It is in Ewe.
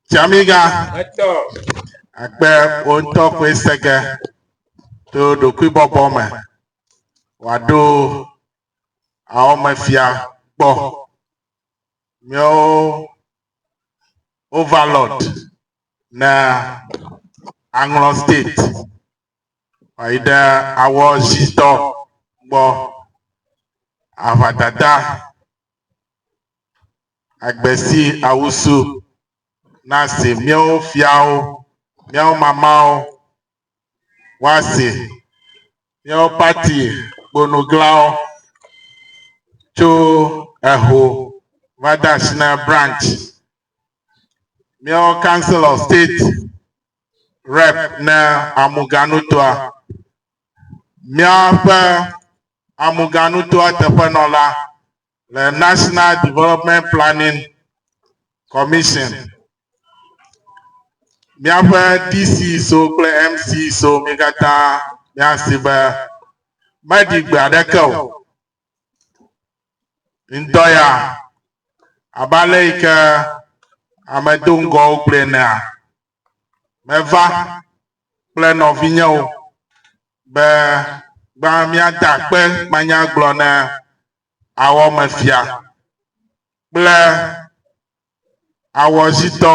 Tiamiga akpe wò ŋutɔ koe se ge to ɖokuibɔbɔ me wòaɖo awɔmefia gbɔ. Míawo overlord na Aŋlɔ State wòayi ɖe awɔ zitɔ gbɔ aʋadada Agbe si awusu na si míawo fiawo, míawo mamawo, woasi, míawo pati kponuglãwo tso eho va de asi na branch, míawo council of state rep ne Amuganutoa, míaƒe Amuganutoa teƒenɔla le National Development Planning Commission. Míaƒe DCSO kple MCSO mi katã míasi be meɖi gbe aɖeke o. Ŋdɔ ya abe ale yi ke ame do ŋgɔwo gblɔe nea, meva kple nɔvinyewo be gbã míada akpe manyagblɔ ne awɔmefia kple awɔzitɔ.